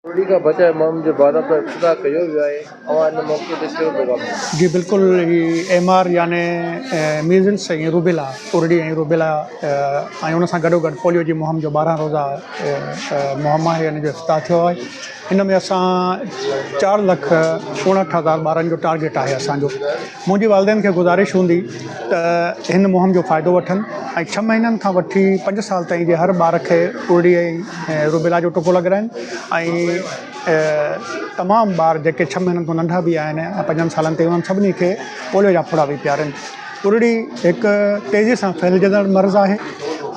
ٻوڏي کان بچائي ماڻهن جي ڀاڙپ لاء افتتاح ڪيو ويو آهي اوهان ان موقعي تي ڪهڙو پيغام ڏيندا. جي بلڪل هي ايم آر يعني ميزلس ۽ روبيلا ڪورڙي ۽ روبيلا ۽ ان سان گڏوگڏ پوليو جي مهم جو ٻارهن روزه مهم آهي ان جو افتتاح ٿيو آهي ان ۾ اسان چار لک اڻهٺ هزار ٻارن جو ٽارگيٽ آهي اسان جو منهنجي والدين کي گذارش هوندي ته هن مهم جو فائدو وٺن ۽ ڇهه مهينن کان وٺي پنج سال تائين جي هر ٻار کي ارڙي ۽ روبيلا جو ٽڪو لڳرائين ۽ تمام ٻار جيڪي ڇهه مهينن کان ننڍا به آهن ۽ پنجن سالن تائين انهن سڀني کي پوليو جا ڦڙا به پيارين ارڙي هڪ تيزي سان ڦهلجندڙ مرض آهي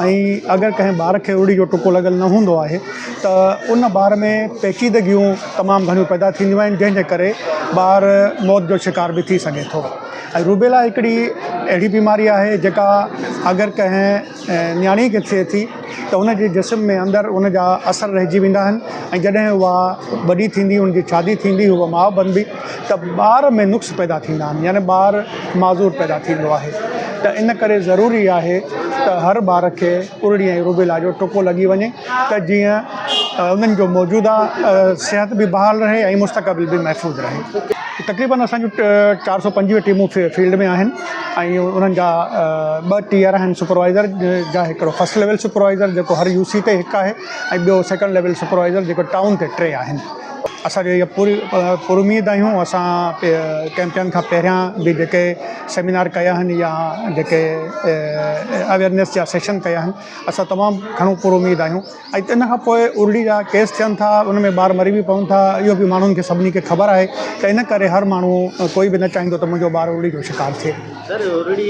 ۽ اگر ڪنهن ٻار کي ارڙي جو ٽڪو لڳل نه هوندو آهي ته ان ٻار ۾ پيچيدگيون تمام گهڻيون پيدا ٿينديون آهن جنهن جي ڪري ٻار موت جو شڪار به ٿي سگهي ٿو ۽ روبيلا هڪڙي اهڙي بيماري آهي جيڪا اگر ڪنهن نياڻي کي ٿئي ٿي ته ان جي جسم ۾ اندر ان جا اثر رهجي ويندا آهن ۽ جڏهن اها وڏي ٿيندي ان جي شادي ٿيندي هوء ماء بنبي ته ٻار ۾ نقص پيدا ٿيندا آهن يعني ٻار معذور پيدا ٿيندو آهي ته ان ڪري ضروري آهي ته هر ٻار کي ارڙي ۽ روبيلا جو ٽڪو لڳي وڃي ته جيئن انهن جو موجوده صحت به بحال رهي ۽ مستقبل به محفوظ رهي. تقريبن اسان جون چار سؤ پنجويهه ٽيمون فيلڊ ۾ آهن ۽ انهن جا ٻه ٽيئر آهن سپروائيزر جا هڪڙو فرسٽ ليول سپروائيزر جيڪو هر يو سي تي هڪ آهي ۽ ٻيو سيڪنڊ ليول سپروائيزر جيڪو ٽائون تي ٽي آهن. اسان کي اها پوري پراميد آهيون اسان ڪئمپيئن کان پهريان به جيڪي سيمينار ڪيا آهن يا جيڪي اويرنيس جا سيشن ڪيا آهن اسان تمام گهڻو پر اميد آهيون ۽ ان کان پوء ارڙي جا ڪيس ٿين ٿا ان ۾ ٻار مري به پون ٿا اهو به ماڻهن کي سڀني کي خبر آهي ته ان ڪري هر ماڻهو ڪوئي به نه چاهيندو ته منهنجو ٻار ارڙي جو شڪار ٿئي